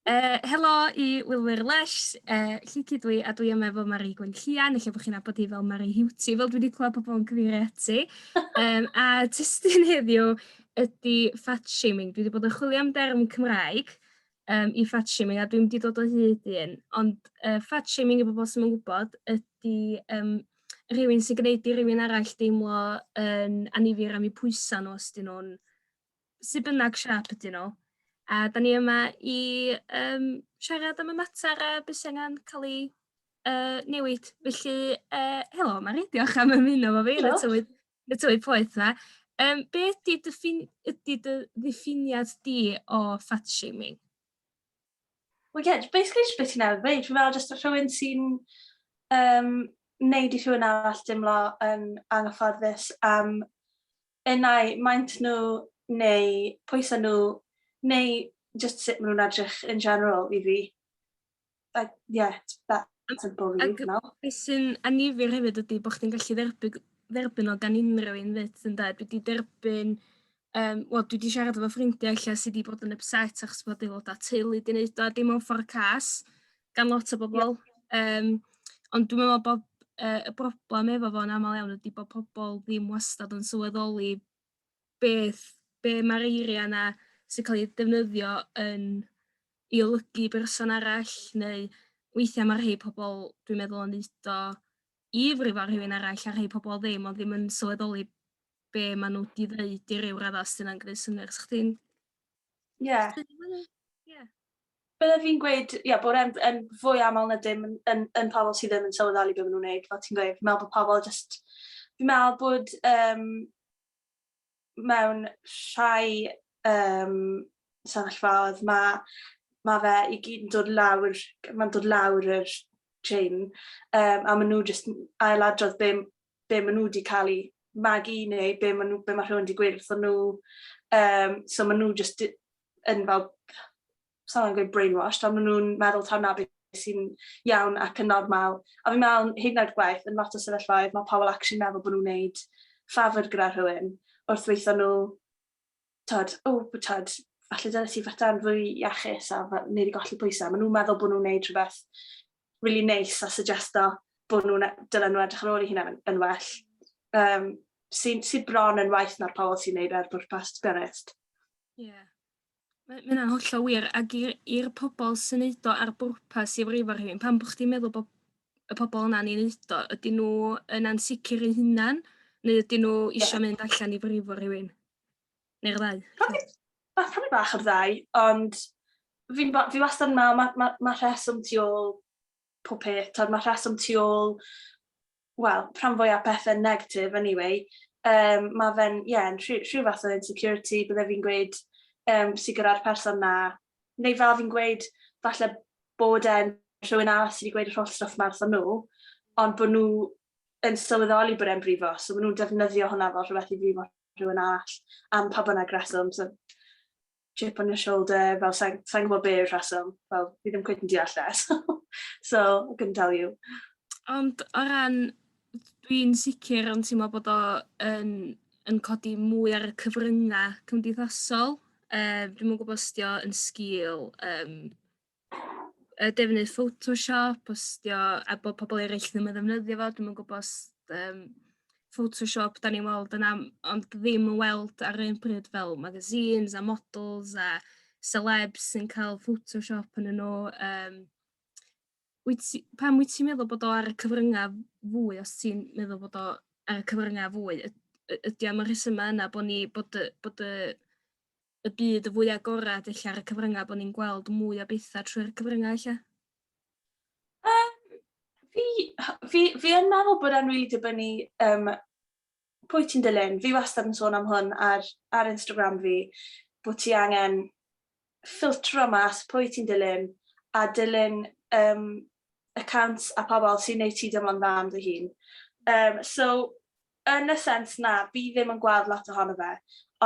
Uh, helo i wylwyr lesh, uh, Llici dwi a dwi yma efo Mari Gwenllian, eich bod chi'n abod i fel Mari Hiwti, fel dwi wedi clywed pobl yn cyfeirio ati. Um, a testyn heddiw ydy fat shaming. Dwi wedi bod yn chwilio am derm Cymraeg um, i fat shaming, a dwi'n wedi dod o hyd i un, ond uh, fat shaming i bobl sy'n yn gwybod ydy um, rhywun sy'n gwneud i rhywun arall deimlo yn um, anifir am eu pwysau nhw os dyn nhw'n sy'n bynnag siap ydyn nhw. A da ni yma i um, siarad am y mater a beth sy'n angen cael ei uh, newid. Felly, uh, helo, Mari, diolch am ymuno fo fi yn y tywydd Y tywydd poeth 'na. Yym be' ydi dy ffin- ydi dy ddiffiniad di o fat shaming? Wel ie j- basically jyst be' ti newydd ddeud fi'n meddwl jyst rhywun sy'n yym neud i rhywun arall dimlo yn anghyfforddus am unai maint nhw neu pwyse nhw neu jyst sut ma' nw'n edrych in general i fi. Like, yeah, it's better to bully, Ac- you know? Be sy'n anifir hefyd ydy bod chdi'n gallu dderbyn, dderbyn o gan unrhyw un fyd yn da. Dwi wedi derbyn, um, wel dwi wedi siarad efo ffrindiau lle sydd wedi bod yn upset achos bod aelodau teulu wedi gwneud o, a dim ond ffordd cas gan lot o bobl. Um, ond dwi'n meddwl bod uh, y broblem efo fo'n aml iawn ydy bod pobl ddim wastad yn sylweddoli beth, be mae'r eiriau yna sy'n cael eu defnyddio yn i olygu berson arall, neu weithiau mae rhai pobl, dwi'n meddwl, yn neud o i frifo rhywun arall, a rhai pobl ddim, ond ddim yn sylweddoli be maen nhw 'di ddeud i ryw raddau, os 'di hynna'n gwneud synnwyr. 'Sa chdi'n... Ie. Ie. Bydde fi'n gweud ie bod e'n yn fwy amal na dim yn yn yn pobol sy ddim yn sylweddoli be' ma' nw'n neud fel ti'n gweud fi'n me'wl bo' pobol jyst fi'n me'wl bod yym mewn rhai yym sefyllfaodd ma' ma' fe i gyd yn dod lawr g- ma'n dod lawr yr trên yym a ma' nw jyst n- ailadrodd be' m- be' ma' nw 'di ca'l 'u magu neu be' ma' nw be' ma' rhywun 'di gweud wrthon nw yym so ma' nw jyst di- yn fel, sa'n angen gweud brainwashed, ond maen nhw'n meddwl taw na beth sy'n iawn ac yn normal. A fi'n meddwl, hyd yn oed gwaith, yn lot o sefyllfaoedd, mae pobl actually meddwl bod nhw'n gwneud ffafr gyda rhywun wrth weithio nhw, tod, o, oh, tod, falle dyna ti fata'n fwy iachus a wneud i golli pwysau. Maen nhw'n meddwl bod nhw'n gwneud rhywbeth rili neis a suggesto bod nhw'n e- dylen nhw edrych ar ôl 'u hunain yn yn well. Yym sy'n sy'n bron yn waeth na'r pobol sy'n neud e ar bwrpas to be honest. Ie. Ma' ma' hynna'n hollol wir ac i'r i'r pobol sy'n neud o ar bwrpas i frifo rhywun pan bo' chdi'n meddwl bo' y pobol yna'n 'i neud o ydyn nhw yn ansicir eu hunan neu ydyn nhw isio mynd allan i frifo rhywun? Neu'r ddau? Probably, bach, probably bach o'r ddau, ond fi, fi wastad yn meddwl, mae ma, ma rheswm tu ôl pob peth, tod, mae rheswm tu ôl, wel, rhan fwy o pethau negatif, anyway. Um, mae fe'n, ie, yeah, rhyw, rhyw fath o insecurity, bydde fi'n gweud, um, sy'n gyda'r person na, neu fel fi'n gweud, falle bod e'n rhywun a sydd wedi gweud yr holl stwff ma wrthyn nhw, ond bod nhw yn sylweddoli bod e'n brifo, so maen nhw'n defnyddio hwnna fel rhywbeth i brifo rhywun arall am pa bynnag reswm. So, chip on your shoulder, fel sa'n sa gwybod be yw'r rheswm, fel fi ddim cwyd yn deall e, so, so I couldn't tell you. Ond o ran, dwi'n sicr yn teimlo bod o yn, yn codi mwy ar y cyfryngau cymdeithasol. Um, dwi'n mwyn gwybod os dio yn sgil um, yy defnydd photoshop postio a bo' pobol eryll ddim yn ddefnyddio fo dwi'm yn gwbo os yym photoshop 'dan ni'n weld yn am- ond ddim yn weld ar yr un pryd fel magazines a models a selebs sy'n ca'l photoshop ynnyn nw yym wyt ti... Pam wyt ti'n meddwl bod o ar y cyfrynga fwy os ti'n meddwl bod o ar y cyfrynga fwy y- y- ydi am y rhesyma' yna bo' ni bod y bod y y byd y fwy agored ella ar y cyfryngau bod ni'n gweld mwy o bethau trwy'r cyfryngau ella? Um, fi, fi, fi yn meddwl bod e'n rili dibynnu um, pwy ti'n dilyn. Fi wastad yn sôn am hwn ar, ar Instagram fi, bod ti angen ffiltro mas pwy ti'n dilyn a dilyn um, accounts a pobl sy'n neud ti deimlo'n dda am dy hun. Um, so, Yn y sens na fi ddim yn gweld lot ohono fe,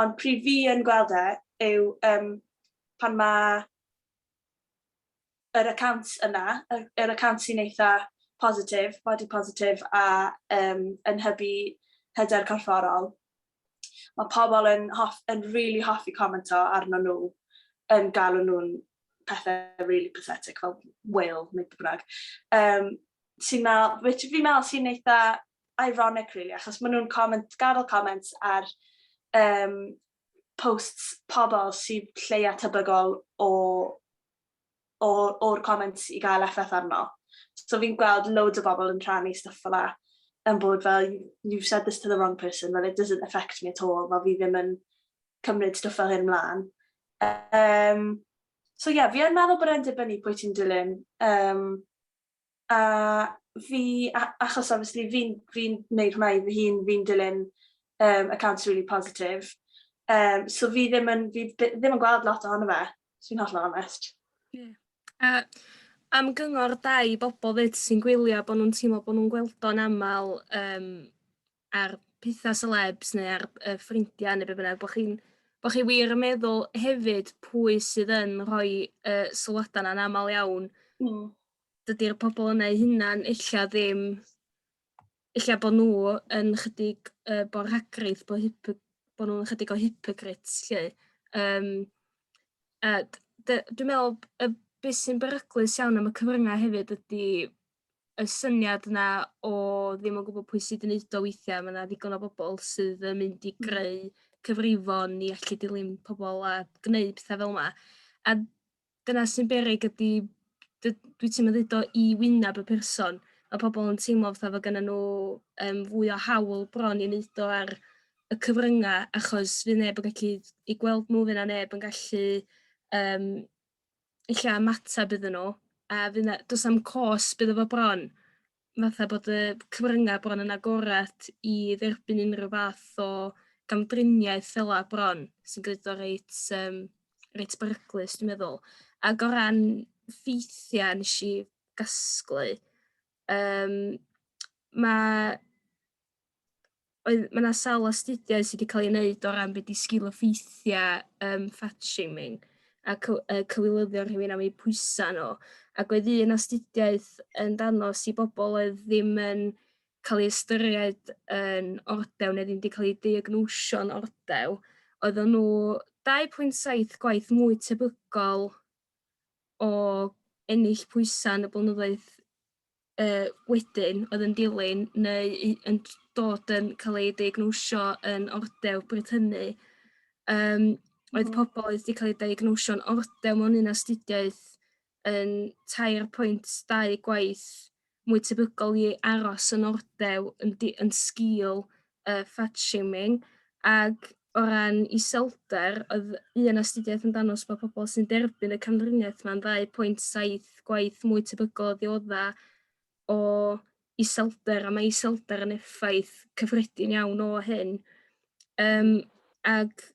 ond pryd fi yn gweld e yw yym pan ma' yr account yna, yr yr account sy'n eitha positif, body positif a yym yn hybu hyder corfforol, ma' pobl yn hoff- yn rili hoffi commento arnyn nhw, yn galw nhw'n pethe rili pathetic fel whale neu be' bynnag, yym sy'n me'l- which fi'n me'l sy'n eitha ironic rili achos maen nhw'n comment, gadael comments ar um, posts pobl sy'n lleia tebygol o o'r comments i gael effaith arno. So fi'n gweld loads o bobl yn rhannu stuff fel la yn bod fel you've said this to the wrong person, well it doesn't affect me at all, fel fi ddim yn cymryd stuff fel hyn mlaen. Um, so ie, yeah, fi yn meddwl bod e'n dibynnu pwy ti'n dilyn. Um, A fi a- achos obviously fi'n fi'n neud hwnna i fy hun fi'n dilyn yym accounts rili positif yym so fi ddim yn fi by- ddim yn gweld lot ohono fe os fi'n hollol onest. Ie. A am gyngor da i bobol 'fyd sy'n gwylio bo' nw'n teimlo bo' nw'n gweld o'n amal yym ar pethau celebs neu ar yy ffrindiau neu be' bynnag bo' chi'n bo' chi wir yn meddwl hefyd pwy sydd yn rhoi y sylwadau 'na yn amal iawn... Hmm. ...dydi'r pobol yna 'u hunan ella ddim ella bo' nhw yn chydig yy bo' rhagrith bo' hypo- bo' nhw'n chydig o hypocrites 'lly yym a d- d- dwi me'wl b- yy be' sy'n beryglus iawn am y cyfrynga hefyd ydi y syniad 'na o ddim yn gwbod pwy sydd yn neud o weithia' ma' 'na ddigon o bobol sydd yn mynd i greu cyfrifon i allu dilyn pobol a gneud petha fel 'na a dyna sy'n beryg ydi dy- dwyt ti'm yn ddeud o i wyneb y person ma' pobol yn teimlo fatha fo gynnon nhw yym fwy o hawl bron i neud o ar y cyfrynga' achos fydd neb yn gallu 'u gweld nhw fy' 'na neb yn gallu yym ella ymateb iddyn nhw a fy' 'na... Do's na'm cost iddo fo bron fatha bod y cyfrynga' bron yn agored i dderbyn unrhyw fath o gamdriniaeth fel 'a bron sy'n gneud o reit yym reit beryglus dwi'n meddwl. Ag o ran ffeithia' nesh i gasglu yym ma' oedd ma' 'na sawl astudiaeth sy' 'di ca'l 'i wneud o ran be' 'di sgil-effeithia yym fat shaming a cyw- yy cywilyddeo rhywun am eu pwysa nhw ac oedd un astudiaeth yn danos i bobl oedd ddim yn cael ei ystyried yn ordew neu ddim 'di cael eu diagnosio'n ordew oeddan nhw 2.7 gwaith mwy tebygol o ennill pwysa yn y blynyddoedd yy wedyn oedd yn dilyn neu i- yn t- dod yn cael eu diagnosio yn ordeb bryd hynny yym oedd pobl oedd wedi cael eu diagnosio'n ordeb mewn un astudiaeth yn 3.2 gwaith mwy tebygol i aros yn ordeb yn di- yn sgil yy fat shaming ag o ran iselder oedd un astudiaeth yn danos bod pobl sy'n derbyn y camdriniaeth ma'n 2.7 gwaith mwy tebygol o ddiodda o iselder a mae iselder yn effaith cyffredin iawn o hyn. Um, ag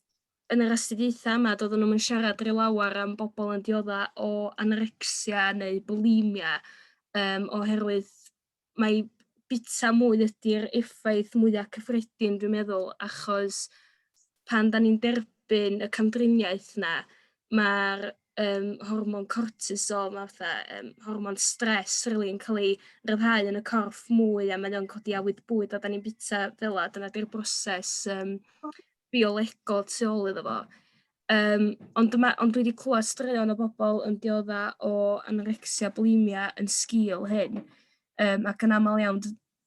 yn yr astudiaethau yma doedden nhw'n yn siarad rhy lawer am bobl yn diodda o anorexia neu bulimia um, oherwydd mai bita mwy ydy'r effaith mwya' cyffredin dwi'n meddwl achos pan 'dan ni'n derbyn y camdriniaeth 'na ma'r yym hormon cortisol 'ma fatha yym hormon stress rili yn ca'l ei ryddhau yn y corff mwy a mae o'n codi awydd bwyd a 'dan ni'n bita fela dyna 'di'r broses yym biolegol tu ôl iddo fo. Um, ond, dyma, ond dwi wedi clywed straeon o bobl yn diodda o anorecsia bulimia yn sgil hyn, um, ac yn aml iawn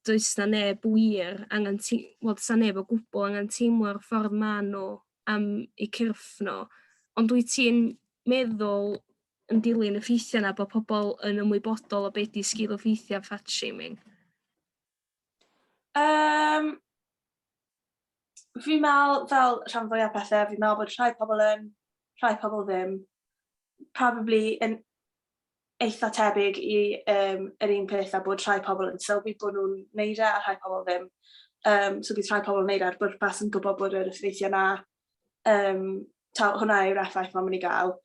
does na neb wir angen ti, wel, does na neb o gwbl angen teimlo'r ffordd ma nhw am eu cyrff nhw. Ond dwi ti'n meddwl yn dilyn y ffeithiau yna bod pobl yn ymwybodol o beth di sgil o ffeithiau fat shaming? Yym fi'n me'wl fel rhan fwya pethe fi'n me'wl bod rhai pobol yn rhai pobol ddim. Probably yn eitha tebyg i yym yr un peth a bod rhai pobol yn sylwi bo' nw'n neud e a rhai pobol ddim. Yym so bydd rhai pobol yn neud e ar bwrpas yn gwbo bod yr effeithie 'na yym t'o' hwnna yw'r effaith ma' myn' i ga'l.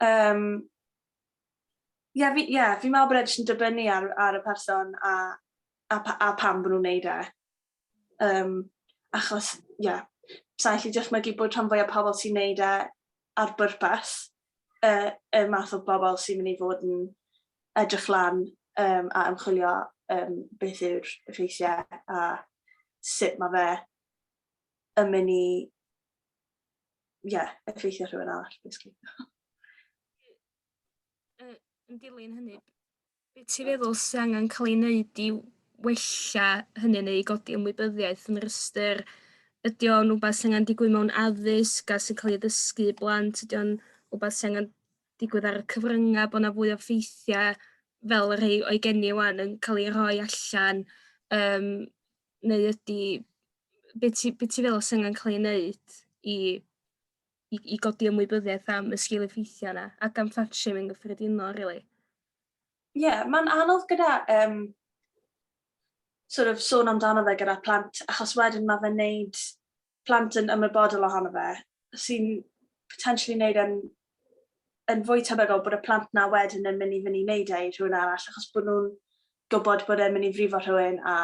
Yym. Ie, fi, ie, fi'n meddwl bod e jyst yn dibynnu ar, ar y person a, a, a pam bod nhw'n neud e. Um, achos, ie, yeah, sa'n lli dychmygu bod rhan fwy o pobl sy'n neud e ar bwrpas, uh, y math o bobl sy'n mynd i fod yn edrych lan um, a ymchwilio um, beth yw'r effeithiau a sut mae fe yn mynd i yeah, effeithio rhywun arall, basically. yn dilyn hynny, beth ti'n feddwl sy'n angen cael ei wneud i wella hynny neu i godi ymwybyddiaeth yn yr ystyr ydy o'n rhywbeth sy'n angen digwydd mewn addysg a sy'n cael ei ddysgu i blant, ydy o'n rhywbeth sy'n angen digwydd ar y cyfryngau, bod yna fwy o ffeithiau fel y rhai o'i geni wan yn cael ei rhoi allan um, neu ydi be' ti be' ti feddwl sy angen ca'l ei neud i i i godi ymwybyddiaeth am y sgil effeithia' 'na ac am fat shaming yn gyffredinol rili? Ie ma'n anodd gyda yym sor' of sôn amdano fe gyda plant achos wedyn ma' fe'n neud plant yn ymwybodol ohono fe, sy'n potentially wneud yn, yn fwy tebygol bod y plant na wedyn yn mynd i fynd i wneud e i rhywun arall, achos bod nhw'n gwybod bod e'n mynd i frifo rhywun a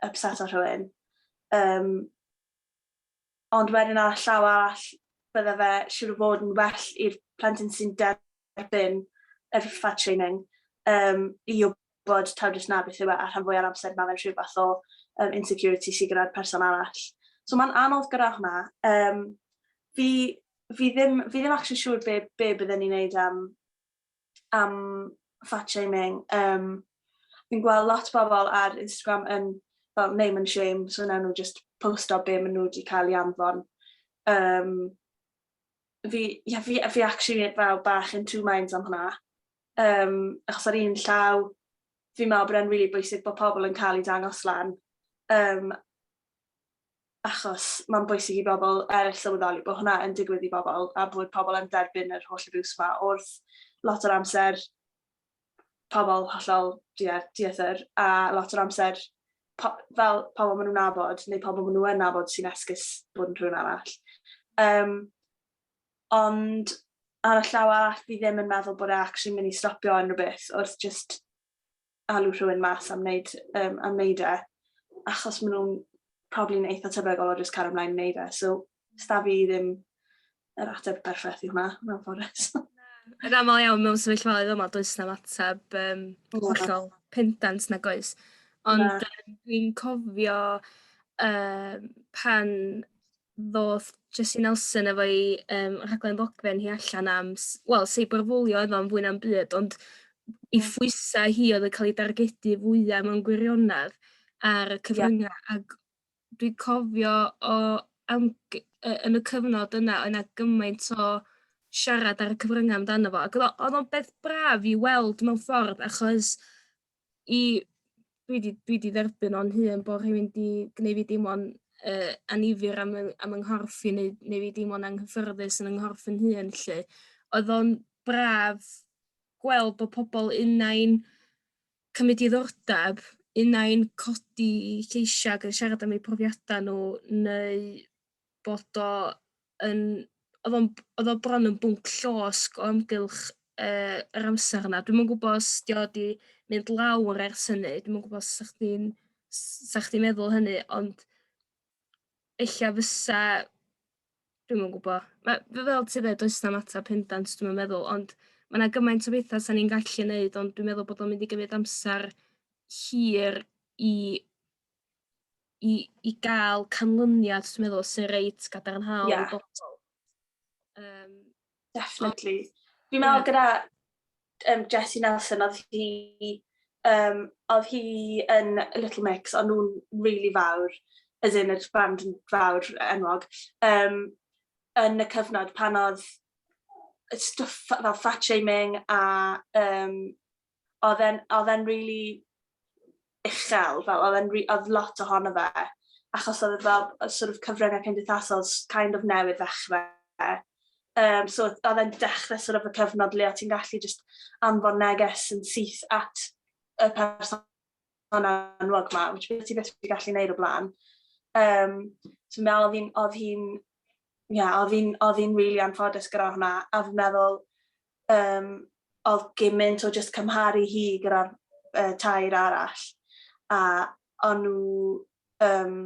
upset o rhywun. Um, ond wedyn ar y llaw arall, bydde fe siwr o fod yn well i'r plentyn sy'n derbyn yr fat training um, i bod taw jyst 'na beth yw e a rhan fwya o'r amser ma' fe'n rhyw fath o yym insecurity sy gyda'r person arall. So ma'n anodd gyda hwnna. Yym fi fi ddim fi ddim actually siŵr be' be' bydden ni'n neud am am fat shaming yym fi'n gweld lot bobl ar Instagram yn fel name and shame so newn nhw jyst posto be' ma' nhw 'di ca'l i anfon. Yym fi ie fi fi actually fel bach in two minds am hwnna. Um, achos ar un llaw, fi'n meddwl bod e'n rili really bwysig bod pobl yn cael eu dangos lan. Um, achos mae'n bwysig i bobl eraill sylweddoli bod hwnna yn digwydd i bobl a bod pobl yn derbyn yr holl abws yma wrth lot o'r amser pobl hollol diethyr a lot o'r amser po fel pobl maen nhw'n nabod neu pobl maen nhw'n nabod sy'n esgus bod yn rhywun arall. Um, ond ar y llaw arall fi ddim yn meddwl bod e actually'n mynd i stopio unrhyw beth wrth jyst alw rhywun mas am wneud, um, am wneud e, achos maen nhw'n probably'n eitha tebygol o jyst cario ymlaen wneud e. So, sta fi ddim yr ateb perffaith i hwnna, mewn ffordd. Yn aml iawn mewn sefyllfaoedd yma, does na ateb um, hollol pendant na goes. Ond dwi'n cofio um, pan ddoth Jessie Nelson efo'i yym rhaglen ddogfen hi allan am s- wel seiberbwlio oedd o'n fwy na'm byd ond i phwysau hi oedd yn cael ei dargedu fwyaf mewn gwirionedd ar y cyfryngau yeah. ac dwi cofio o am, yn y cyfnod yna oedd yna gymaint o siarad ar y cyfryngau amdano fo ac oedd o'n beth braf i weld mewn ffordd achos i dwi 'di dwi 'di dderbyn o'n hun bo' rhywun 'di gneud fi deimlo'n yy annifyr am yy am 'y nghorff i neu neu fi deimlo'n anghyffyrddus yn 'y nghorff fy hun 'lly. Odd o'n braf gweld bo' pobol unai'n cymryd diddordab unai'n codi 'u lleisia' ag yn siarad am eu profiada' n'w neu bod o yn... oedd o'n... oedd o bron yn bwnc llosg o amgylch yy yr amser yna. Dwi'm yn gwybod os 'di o 'di mynd lawr ers hynny, dwi'm yn gwybod os 'sa chdi'n... 'sa chdi'n meddwl hynny, ond ella fysa... dwi'm yn gwybod. Ma'... Fel fel ti ddeud does na'm ateb pendant dwi'm yn meddwl, ond ma' 'na gymaint o betha 'sa ni'n gallu neud, ond dwi'n meddwl bod o'n mynd i gymryd amser hir i i i ga'l canlyniad dwi'n meddwl sy reit gadarnhaol... Ie. ...i bobol. Yym. Definitely. Fi'n me'wl... Ie. ...gyda yym Jessie Nelson odd hi yym odd hi yn Little Mix o'n nw'n rili fawr as in o'dd band yn fawr enwog yym yn y cyfnod pan odd y stwff fel fat shaming a yym oedd e'n, oedd e'n rili uchel, fel oedd e'n, oedd lot ohono fe, achos oedd e fel sort of cyfryngau cymdeithasol kind of newydd ddechrau. Um, so oedd e'n dechrau sort of y cyfnod le o ti'n gallu just anfon neges yn syth at y person anwag ma, which beth ti beth wedi gallu gwneud o blaen. Um, so me oedd hi'n, oedd hi'n, ie, oedd hi'n, oedd hi'n really anffodus gyda hwnna, a fi'n meddwl, Yym, oedd gymint o jyst cymharu hi gyda'r yy tair arall, a o'n nhw yym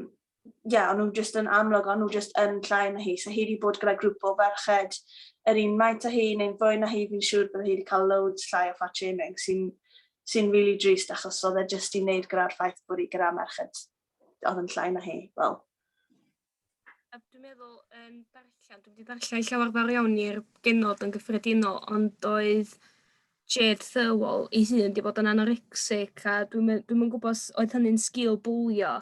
ie o'n nhw jyst yn amlwg o'n nhw jyst yn llai na hi, so hi 'di bod gyda grŵp o ferched yr un maint â hi neu'n fwy na hi fi'n siŵr bydde hi 'di cael loads llai o fat shaming sy'n sy'n rili drist achos oedd e jyst i wneud gyda'r ffaith bod hi gyda merched oedd yn llai na hi, wel. A dwi'n meddwl yn darllen dwi 'di darllen llawer fawr iawn i'r genod yn gyffredinol ond doedd Jade Thirlwall ei hun 'di bod yn anorexic a dwi'm yn dwi'm yn gwbo os oedd hynny'n sgil bwlio.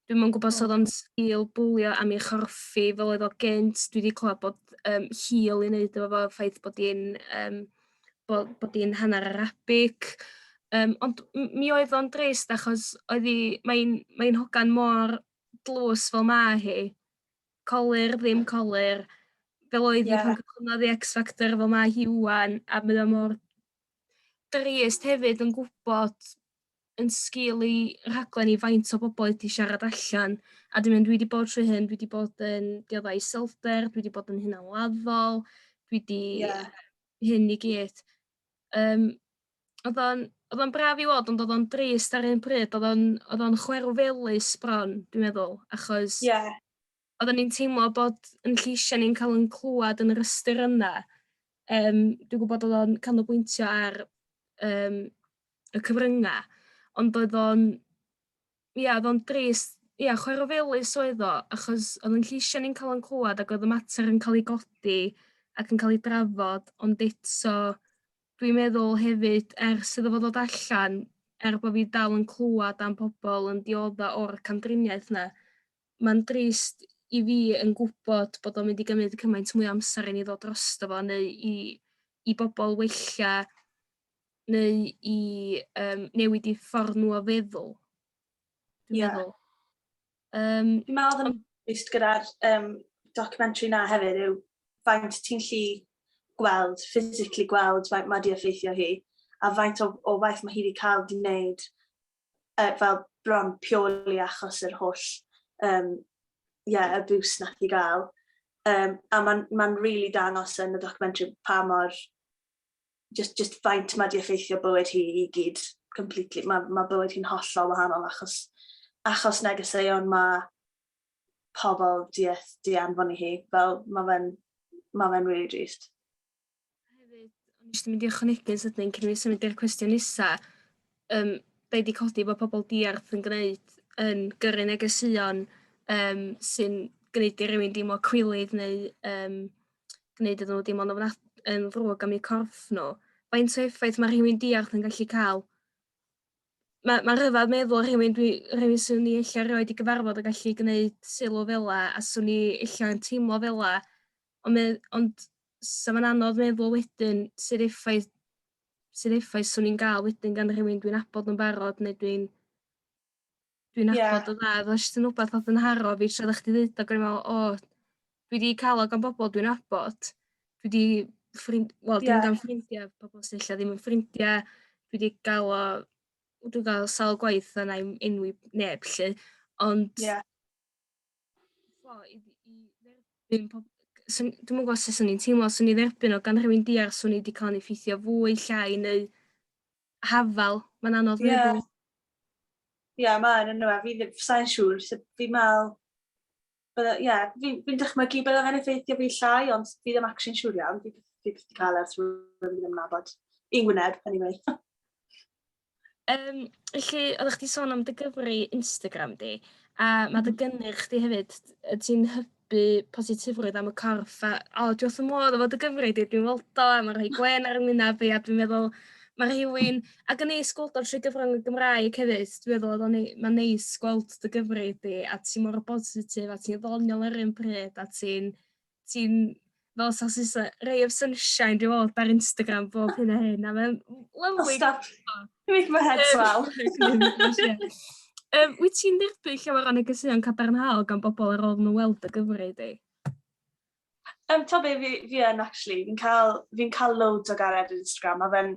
Dwi'm yn gwbo os odd o'n sgil bwlio am ei chorffi fel oedd o gynt dwi 'di clwad bod yym hil i neud efo fo ffaith bod 'i'n yym bo' bod 'i'n hannar Arabic yym ond m- mi oedd o'n drist achos oedd 'i mae'n mae'n hogan mor dlws fel ma' hi, colur, ddim colur, fel oedd hi yeah. pan cychwynnodd i X Factor fel mae hi wwan, a mae o mor drist hefyd yn gwybod yn sgil i rhaglen i faint o bobl wedi siarad allan, a dwi'n mynd, dwi wedi bod trwy hyn, dwi wedi bod yn dioddau iselder, dwi wedi bod yn hunanladdol, dwi wedi yeah. hyn i gyd. Um, Odd o'n odd o'n braf i weld ond odd o'n drist ar un pryd odd o'n odd o'n chwerwfelus bron dwi'n meddwl achos... Ie. ...oddan ni'n teimlo bod 'yn lleisia' ni'n ca'l 'yn clwad yn yr ystyr yna yym dwi gwbod odd o'n canolbwyntio ar yym y cyfrynga' ond oedd o'n ia odd o'n drist ia chwerwfelus oedd o achos odd 'yn lleisia' ni'n ca'l 'yn clwad ac oedd y mater yn ca'l 'i godi ac yn ca'l 'i drafod ond eto Dwi'n meddwl hefyd ers iddo fo ddod allan er bo' fi dal yn clwad am pobol yn diodda' o'r camdriniaeth 'na ma'n drist i fi yn gwbod bod o'n mynd i gymyd cymaint mwy o amser i ni ddod drosto fo neu i i bobol wella neu i yym newid 'u ffor nhw o feddwl dwi'n meddwl. Um, Dwi'n meddwl oedd yn just gyda'r um, documentary na hefyd yw faint ti'n lli gweld, physically gweld faint mae wedi effeithio hi, a faint o, o waith mae hi wedi cael di wneud uh, fel bron pioli achos yr holl um, yeah, abuse nath i gael. Um, a mae'n ma, rili really dangos yn y documentary pa mor just, just faint mae di effeithio bywyd hi i gyd completely. Mae, mae bywyd hi'n hollol wahanol achos, achos negeseuon mae pobl di, di anfon i hi. Fel, mae fe'n ma fe really drist. Hefyd, o'n eisiau mynd i ychwanegu sydyn cyn fi symud i'r cwestiwn nisa. Um, da wedi codi bod pobl diarth yn gwneud yn gyrru negeseuon um, sy'n gwneud i rywun deimlo cwilydd neu um, gwneud iddyn nhw deimlo'n ofnad- yn ddrwg am eu corff nhw. Faint o effaith mae rhywun diarth yn gallu cael? Mae, mae rhyfedd meddwl rhywun, dwi, rhywun sy'n ni eich rioed i gyfarfod yn gallu gwneud sylw fela a swn ni eich yn teimlo fela. Ond, me, ond sa fo'n anodd meddwl wedyn sydd effaith sydd effaith swn i'n gael wedyn gan rhywun dwi'n abod yn barod neu dwi'n dwi'n Ie. nabod o dda odd o jyst yn wbath odd yn haro fi tra oddach chdi ddeud o o'n i'n me'wl o dwi 'di ca'l o gan bobol dwi'n nabod dwi 'di ffrind wel dwi'n Ie. ga'l ffrindia pobol sy ella ddim yn ffrindia dwi 'di ga'l o w- dwi ga'l sawl gwaith a nai'm enwi neb 'lly ond Ie. o i i dderbyn pob- g- swn dwi'm yn gwbo sut swn i'n teimlo swn i dderbyn o gan rhywun diarth swn i 'di ca'l 'yn effeithio fwy llai neu hafal, mae'n anodd yeah. meddwl. Ie, yeah, mae'n yno, fi ddim, sa'n siŵr, so fi'n meddwl, ie, yeah, fi'n fi dychmygu bydde fe'n effeithio fi llai, ond fi ddim actually'n siŵr iawn, fi ddim wedi cael ers rwy'n fi ddim yn nabod. I'n wyneb, anyway. um, felly, oeddech chdi sôn am dy gyfri Instagram di, a mae dy mhm. gynnyrch di hefyd, ti'n bu positifrwydd am y corff a o dwi wrth fy modd efo dy gyfri di dwi'n weld o a ma' rhoi gwên ar 'y ngwynab i a dwi'n meddwl ma' rhywun ac yn neis gweld o'n trwy gyfrwng y Gymraeg hefyd dwi meddwl odd o'n nei- ma'n neis gweld dy gyfri di a ti mor bositif a ti'n ddoniol ar yr un pryd a ti'n ti'n fel sausage sy ray of sunshine dwi weld ar Instagram bob hyn a hyn a mae'n lyfli. Stop. You make my head swell. um, wyt ti'n dderbyn llawer o negeseuon cadarnhaol gan bobl ar ôl nhw weld y gyfrif di? Um, to be, fi, fi yn actually, fi'n cael, fi cael loads o gared ar Instagram a fe'n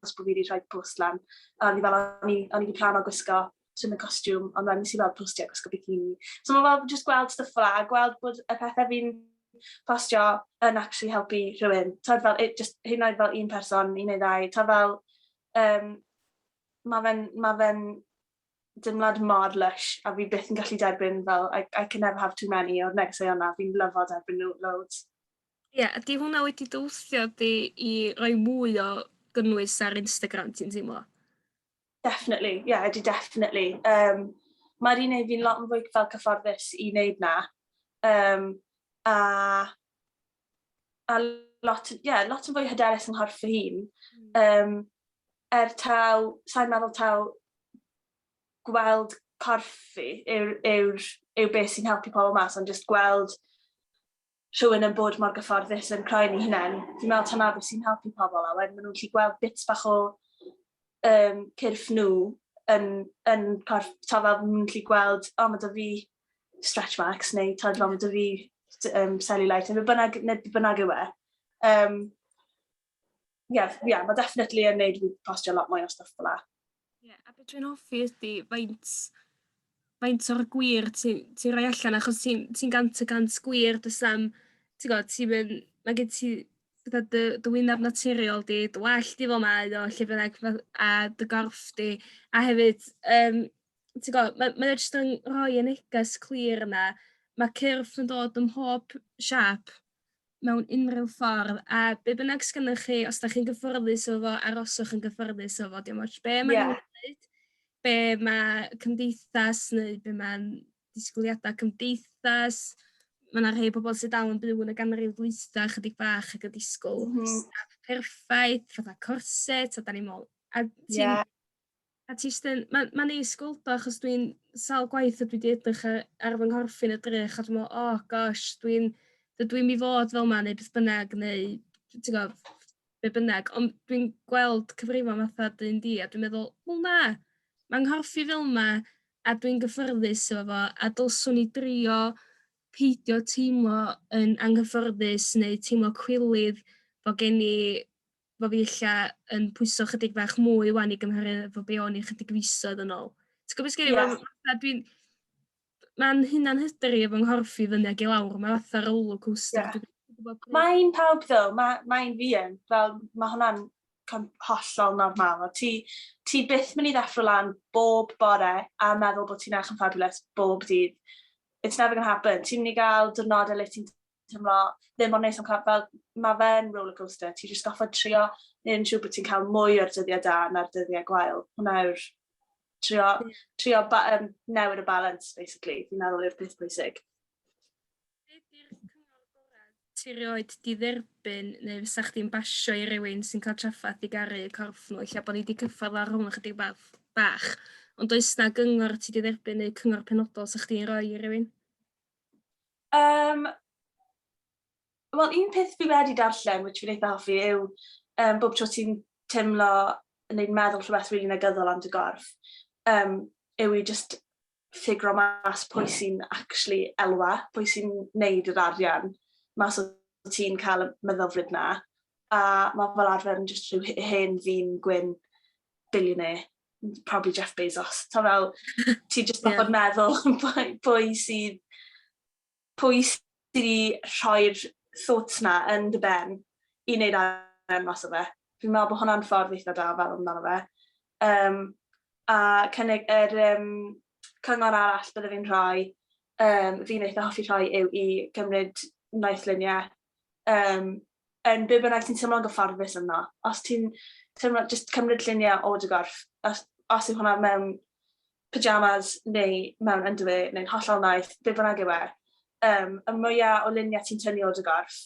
achos bod fi wedi rhoi post lan. A o'n i fel, o'n i, o'n i wedi plan o gwisgo swim y costiwm, ond wedyn nes i weld postio gwisgo bikini. So mae fel just gweld stuff fel a gweld bod y pethau fi'n postio yn actually helpu rhywun. Tod fel, it just, hyn oed fel un person, un neu ddau. Ta fel, um, mae fe'n, ma fe dimlad mor lush a fi byth yn gallu derbyn fel, I, I can never have too many o'r negeseuon na, fi'n lyfo derbyn nhw loads. Ie, ydy hwnna wedi dy wthio di i roi mwy o gynnwys ar Instagram, ti'n teimlo? Definitely, ie, yeah, ydy definitely. Um, Mae'r un ei fi'n lot yn fwy fel cyfforddus i wneud na. Um, a, a lot, yeah, lot yn fwy hyderus yn nghorff fy hun. Um, er taw, sa'n meddwl taw gweld corff fi yw'r yw, yw beth sy'n helpu pobl mas, ond just gweld rhywun yn bod mor gyfforddus yn croen ei hunain, fi'n meddwl taw 'na beth sy'n helpu pobl a wedyn maen nhw'n gallu gweld bits bach o um, cyrff nhw yn, yn corff, ta fel maen nhw'n gallu gweld, o oh, mae dy fi stretch marks neu ta fel mae dy fi um, cellulite neu beth bynnag, neu beth bynnag yw e. Um, Ie, ie, mae definitely yn neud fi postio lot mwy o stwff fel 'a. Ie, a beth dwi'n hoffi ydi faint faint o'r gwir ti'n ti roi allan achos ti'n ti gant y cant gwir does na'm ti'n gwybod, ti'n mynd, mae gen ti gyda dy dy wyneb naturiol di, dy wallt di fel mae o lle bynnag ma' a dy gorff di a hefyd yym ti'n gwybod, mae mae o jyst yn rhoi y neges clir yna. Mae cyrff yn dod ym mhob siâp. mewn unrhyw ffordd, a be bynnag sgynnoch chi, os da chi'n gyffyrddus o fo, aroswch yn gyffyrddus o fo, dim ots be mae'n yeah. gwneud, be mae cymdeithas neu be mae'n disgwyliadau cymdeithas, mae yna rhai pobl sydd dal yn byw yn y ganrif ddwytha chydig bach ac yn disgwyl mm. staff perffaith, fatha corset, a da ni'n meddwl, a ti'n yeah. A ti jyst yn... Ma'n ma'n neis gweld o achos dwi'n sawl gwaith a dwi 'di edrych a- ar fy nghorff i'n edrych a dwi me'wl oh gosh dwi'n dydw i'm i fod fel 'ma neu beth bynnag neu t- ti'n gw'o' be' bynnag ond dwi'n gweld cyfrifon fatha dy un di a dwi'n meddwl wel na ma' nghorff i fel 'ma a dwi'n gyffyrddus efo fo a dylswn i drio peidio teimlo yn anghyffyrddus neu teimlo cwilydd bo' gen i Bo' fi ella yn pwyso chydig fach mwy 'wan i gymharu efo be' o'n i chydig fisoedd yn ôl. Ti'n gwbo' be' sgen i me'wl Ie. fatha dwi'n ma'n hunan hyder i efo nghorff i fyny ag i lawr ma' fatha roler coaster Ie. dwi ddim yn gwbo pryd Mae'n pawb ddo, ma' mae'n fi yn, fel ma' hwnna'n com- hollol normal, a ti ti byth myn' i ddeffro lan bob bore a meddwl bo' ti'n eych yn fabulous bob dydd. It's never gonna happen. Ti myn' i ga'l diwrnode le ti'n teimlo ddim ond neis am cam, fel mae fe'n rollercoaster, ti jyst goffod trio neu yn siŵr bod ti'n cael mwy o'r dyddiau da na'r dyddiau gwael. Hwna yw'r trio, trio ba, um, newid y balance, basically, fi'n meddwl yw'r peth pwysig. Ti roed di dderbyn neu fysa chdi'n basio i rywun sy'n cael traffaeth i garu y corff nhw, lle bod ni wedi cyffordd ar hwn ychydig bach, bach. Ond does na gyngor ti wedi dderbyn neu cyngor penodol sy'ch chdi'n rhoi i rywun? Um, Wel, un peth fi wedi darllen, which fi'n eitha hoffi, yw um, bob tro ti'n teimlo yn ein meddwl rhywbeth rili really negyddol am dy gorff, um, yw i just ffigro mas pwy sy'n actually elwa, pwy sy'n neud yr arian mas o ti'n cael y meddylfryd na. A mae fel arfer yn just rhyw hen ddyn gwyn billionaire probably Jeff Bezos. Ta fel, ti jyst yeah. bod meddwl pwy sydd, pwy sydd i rhoi'r thoughts na yn dy ben i wneud arian mas o fe. Fi'n meddwl bod hwnna'n ffordd eitha da fel amdano fe. Um, a cynnig yr um, cyngor arall bydde fi'n rhoi, um, fi'n eitha hoffi rhoi yw i gymryd noethluniau um, yn be bynnag ti'n teimlo'n gyfforddus yno. Os ti'n teimlo, just cymryd lluniau o dy gorff, os, os yw hwnna mewn pyjamas neu mewn ynddo neu'n hollol naeth, be bynnag yw e, um, y mwyaf o luniau ti'n tynnu o dy gorff,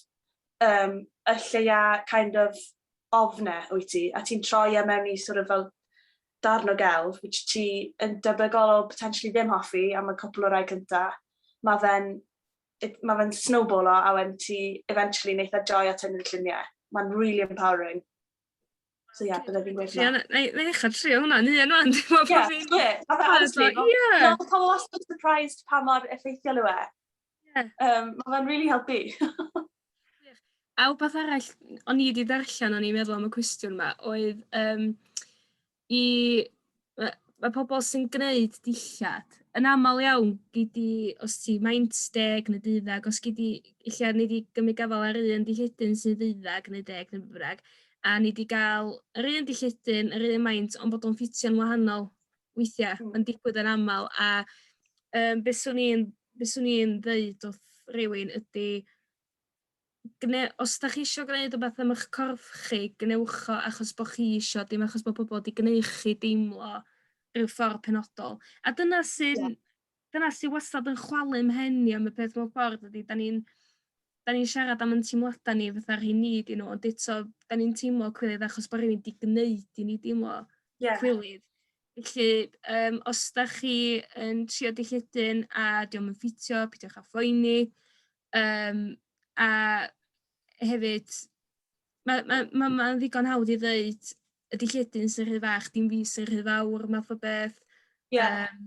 um, y lleia kind of ofne wyt ti, a ti'n troi e mewn i sort of fel darn o gelf, which ti yn debygol o potentially ddim hoffi am y cwpl o rai cyntaf, mae fe'n it, mae fe'n snowballo a wedyn ti eventually wneud a joy at hynny'r lluniau. Mae'n really empowering. So ie, yeah, bydde fi'n gweud hwnna. Ie, na i ddechrau trio hwnna, ni yn o'n. Ie, honestly, fel pobl wastad surprised pa mor effeithiol yw e. Um, mae fe'n really helpu. A wbeth arall, o'n i wedi darllen, o'n i'n meddwl am y cwestiwn yma, oedd um, i yy ma' pobol sy'n gneud dillad yn aml iawn gei di os ti maint deg neu deuddag os gei di ella nei di gymryd gafal ar un dillledyn sy'n ddeuddag neu deg neu be' bynnag a nei di ga'l yr un dillledyn yr un maint ond bod o'n ffitio'n wahanol weithia'. Hmm. Ma'n digwydd yn amal a yym be' swn i'n be' swn i'n ddeud wrth rywun ydi gwneu- os ydych chi eisiau gwneud rhywbeth am eich corff chi, gwnewch o achos bod chi eisiau, dim achos bod pobl wedi gwneud chi deimlo rhyw ffordd penodol. A dyna sy'n... Ie. ...dyna sy wastad yn chwalu 'mhen i am y peth mewn ffordd ydi 'dan ni'n 'dan ni'n siarad am 'yn teimlada ni fatha rhei ni 'di nhw ond eto 'dan ni'n teimlo cywilydd achos bo' rywun 'di gneud i ni deimlo... Ie. ...cywilydd. Felly yym os dach chi yn trio dy lludyn a 'di o'm yn ffitio peidiwch â phoeni yym a hefyd ma' ma' ma' ma'n ddigon hawdd i ddeud y dy lludyn sy'n rhy fach dim fi sy'n rhy fawr math o beth. Ie. Yym.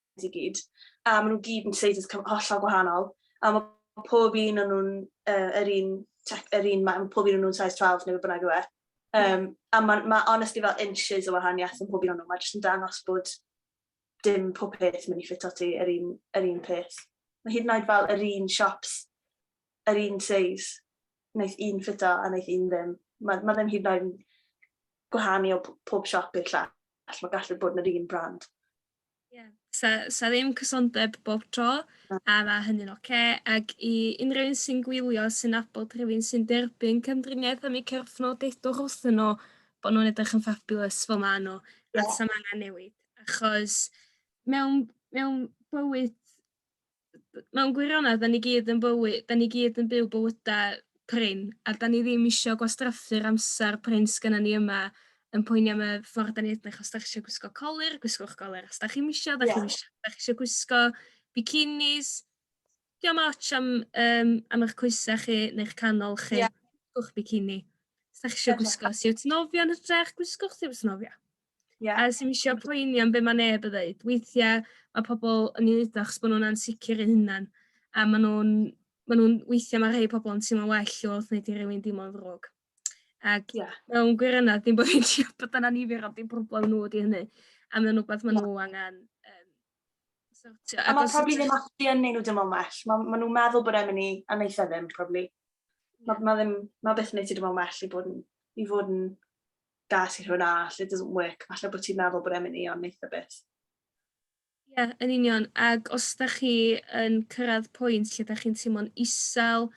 i gyd, a maen nhw gyd yn status hollol gwahanol, a mae pob un o'n nhw'n uh, yr un, yr un, mae pob un o'n nhw'n size 12 neu bynnag yw e. Um, a mae ma honestly fel inches o wahaniaeth yn pob un o'n nhw, mae jyst yn dangos bod dim pob peth mynd i ffit o ti yr un, yr un peth. Mae hyd yn oed fel yr un shops, yr un size, wnaeth un ffit o a wnaeth un ddim. Mae ma ddim hyd yn oed yn gwahanu o pob siop i'r llall, mae gallu bod yn yr un brand. Ie, sa, sa ddim cysondeb bob tro, a mae hynny'n oce, okay. ac i unrhyw un sy'n gwylio sy'n nabod rhywun sy'n derbyn cymdriniaeth am eu cyrffno, deudwch wrthyn nhw bod nhw'n edrych yn fabulous fel maen nhw, yeah. a sam angen newid, achos mewn, mewn bywyd mewn gwirionedd, da ni gyd yn bywy, da ni gyd yn byw bywydau prin, a da ni ddim eisiau gwastraffu'r amser prin sgynna ni yma yn poeni am y ffordd da ni edrych, os da chi eisiau gwisgo colir, gwisgwch golir, os da chi'n eisiau, da yeah. chi'n eisiau, da chi eisiau gwisgo bikinis, diolch yn ots am, um, am eich coesau chi neu'ch canol chi, yeah. gwisgwch bikini. Os da chi eisiau gwisgo siwt nofio yn hytrach, gwisgwch siwt nofio. Ie. A sim isio poeni am be' ma' neb yn ddeud. Weithia' ma' pobol yn 'i neud o achos bo' nw'n ansicir eu hunan a ma' nw'n ma' nw'n weithia' ma' rhei pobol yn teimlo'n well wrth neud i rywun deimlo'n ddrwg. Ac yeah. mewn gwirionadd dim bo' fi'n siŵr bod yn annifyr ond dim problem nhw ydi hynny. A mae'n rhywbeth ma' nhw angen um, sortio. A mae probably ddim actually yn neud nhw dim ond well. Mae ma' nhw'n meddwl bod e'n mynd i, a neitha ddim, probably. Mae ma ddim, ma byth yn neud ti dim ond well i fod yn, i fod yn gas i rhywun arall, it doesn't work, falle bod ti'n meddwl bod e'n mynd i ond neitha beth. Ie, yeah, yn union. Ac os da chi yn cyrraedd pwynt lle da chi'n teimlo'n isel,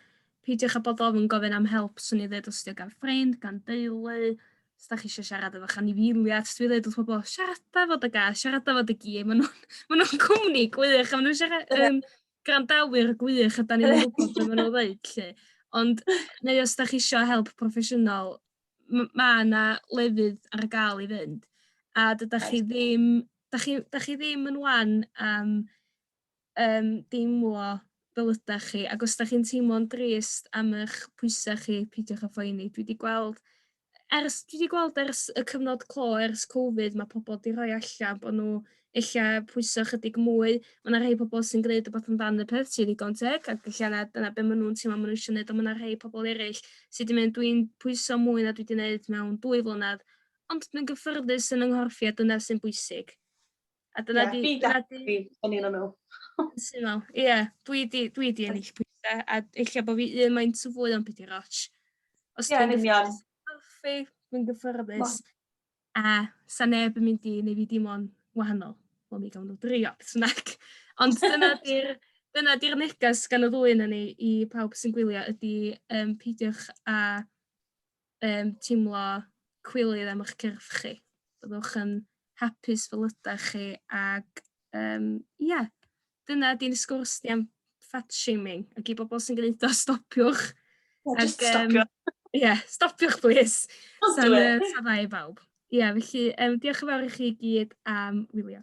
peidiwch â bod ofyn gofyn am help, swn i ddweud os ydi o gan ffrind, gan deulu, os da chi eisiau siarad efo anifiliad, dwi ddweud wrth bobl, siarada fod y gas, siarada fod y gi, maen nhw'n ma nhw cwmni gwych, a maen nhw'n siarad, um, grandawyr gwych, a da ni'n gwybod beth maen nhw'n ddweud, lle. Ond, neu os da chi eisiau help proffesiynol, m- mae yna lefydd ar gael i fynd, a dydych chi ddim, da chi, da chi ddim yn wan am um, deimlo fel ydych chi, ac os da chi'n teimlo'n drist am eich pwysau chi, peidiwch â phoeni. Dwi wedi gweld, ers, dwi wedi gweld ers y cyfnod clo, ers Covid, mae pobl wedi rhoi allan bod nhw ella pwyso ychydig mwy. Mae yna rhai pobl sy'n gwneud rhywbeth amdan y peth sy'n ddigon teg ac ella na dyna be maen nhw'n teimlo maen nhw eisiau gwneud ond mae yna rhai pobl eraill sydd wedi mynd dwi'n pwyso mwy na dwi wedi gwneud mewn dwy flynedd ond dwi'n gyffyrddus yn yng nghorff a dyna sy'n bwysig. A dyna yeah, di... Fi dwi yn un o'n nhw. Syml, ie. Yeah, dwi di, dwi di ennill pwysau, a eich bod fi un mae'n tu fwy o'n byd i'r och. Os yeah, dwi'n gyffyrddus, dwi'n gyffyrddus. A 'sa neb yn mynd i neu' fi deimlo'n wahanol. Wel mi gawn nw drio beth bynnag. Ond dyna 'di'r dyna 'di'r neges gan y ddwy yna ni i pawb sy'n gwylio ydi yym peidiwch â yym teimlo cwilydd am 'ych cyrff chi. Byddwch yn hapus fel ydach chi ag yym ia dyna di'n sgwrs ni am fat shaming ac i bobl sy'n gwneud o stopiwch. Ie, just ac, stopio. Um, Ie, yeah, stopiwch plis. Sa'n uh, i bawb. Ie, yeah, felly um, diolch yn fawr i chi gyd am wylio.